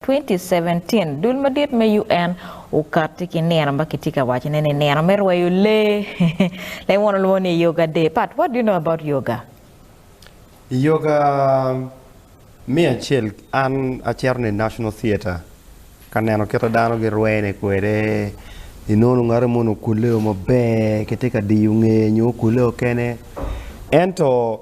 2017, Dul madit me UN okati ki nino ma kitye ka waco ne ni nino me rweyo lee. Leng won olwongo ni Yoga Day. Pat, what do you know about yoga? I yoga me acel an acito ni National Theatre ka neno kite dano girwene kwede, inongo ngate moni okule o maber kitye ka diyo ngeye nyo okule o kene ento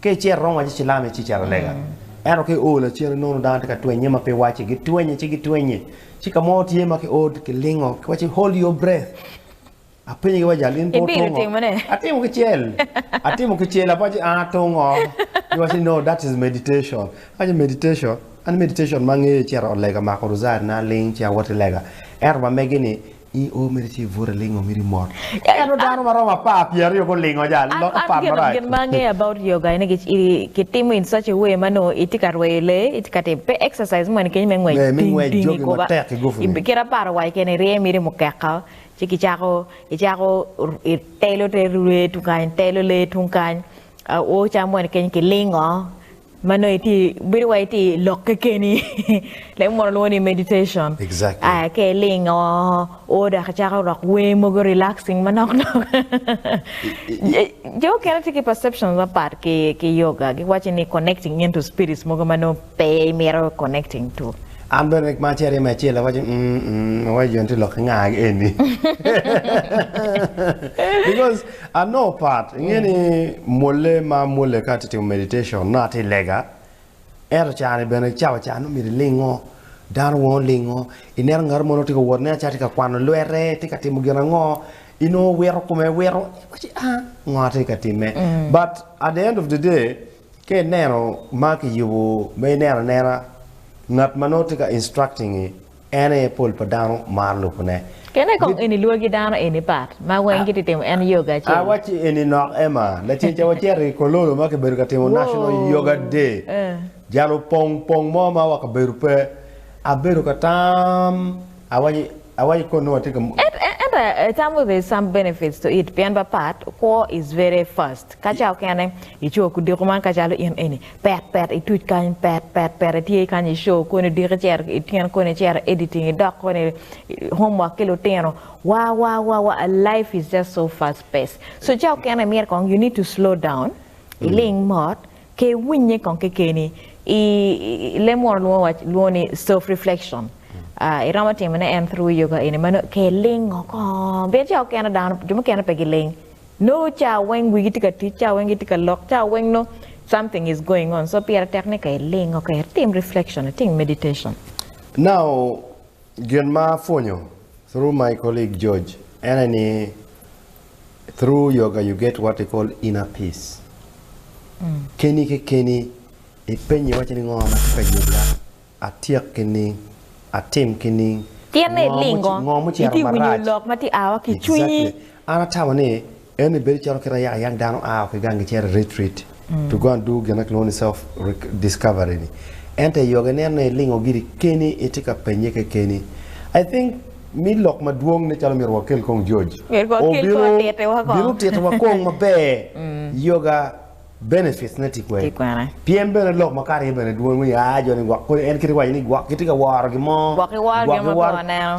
Ka icito iromo waco cilam ici calo lega. Ento ka i oo lacen inongo dano tye ka twenye ma pe wacce, gitwenye ci gitwenye. Ci ka mo tye ma ki oo kilingo kiwacci hold your breath. Apenye ki wajal in pe otungo? Ibido timo ne? Atimo ki cel. Atimo ki cel apa ci aa tungo. Giwacci ni no that is meditation. Awacci meditation? An meditation ma angeyo icito ot lega mako ruzari na aling ci awot ki lega. Ento ma megi ni I oo mere ci ibute alingo mito imot. Ento dano maromo apar pyeraryo gulingo ja lok apar marac. Gin ma angeyo about yoga ene ki timo in such a way ma nongo itye ka rweyo lee, itye ka timo pe exercise moni kenyo me ngwec ting ting i goba. Ngwec matek ki gupu ni. Kit aparo wa keken irye miti mukeka ci ki cako icako itelo te rye tung kany itelo lee tung kany oo calo moni kenyo kilingo ma nongo iti bedo wai iti lok kekeni lek mono lwongo ni meditation exactly. aya ke iling o o dok icako rok wer mogo relaxing manok nok jo okene ti ki perceptions mapat ki ki yoga gi waci ni connecting into spirits mogo ma nongo pe imito connecting to an bene rik ma ceri me acel awaci mm mm awaci jo ni ti lok ki nga eni because I know part inge ni mwolle ma amwolle ka atye timo meditation nongo atye lega ento ca ni bene cawa ca nongo myero ilingo dano weng olingo ineno ngat mo nongo tye ka wot ineno calo tye ka kwano lwete tye ka timo gin ango inongo wito kome wito iwaci aa ngo atye ka time but at the end of the day ka ineno ma kiyubo ma ineno anena ngat ma nongo tye ka instructing-ngi En aye pol pa dano maro lubone. Kene I kong eni lwagi dano eni pat ma weng giti timo en yoga acel. Awacci eni nok Emma, lacen ca wacito I Kololo ma kibedo ka timo National Yoga Day, jal opong pong mo ma wa kabedo pe. Abedo ka tam, awacci, awacci koni watye ka. Ento atamo there's some benefits to it pien ba pat, kwo is very fast. Kaca okene icoyo kudiko man kacalo in eni, Pet pet ituc kany pet pet pet itye kany i show kono idiki cito i tyen kono icito editing idok kono i homework ki lutino wa wa wa wa life is just so fast pace so ca okene myero kong you need to slow down iling mot ke iwinye kong kekeni i lem munu lwongo wa lwongo ni self reflection ah iromo timone en through yoga eni mano ke ilingo kong pien ca okene dano jo mukene pe giling Nongo ca weng wigi tye ka tic, ca weng gitye ka lok, ca weng nongo something is going on so pire tek ni ka iling okay itim reflection, itim meditation. Now gin ma apwonyo through my colleague George ene ni through yoga you get what we call inner peace keni kekeni ipenyi iwaci ni ngo ma tye ka yubba Atyek ki ning? Atim ki ning? Tinne i lingo, itye winyo lok ma tye awa ki cwinyi. An atamo ni enoni bedo calo kit ayak ayak dano aa ki gangi cito i retreat to go and do gin ma kilwongo ni self discovery ni. Ento i yoga ineno ni ilingo giri keni itye ka penye kekeni. I think me lok madwong ne calo myero wakel kong George obino tito wa kong maber yoga. Benefits ne tye kwene? Pyem bene lok makato aye bene dwong me ya jo ni gwok kodi en kite waco ni gwok kitye ka woro gin mo. Gwok iworo gin ma pe waneno.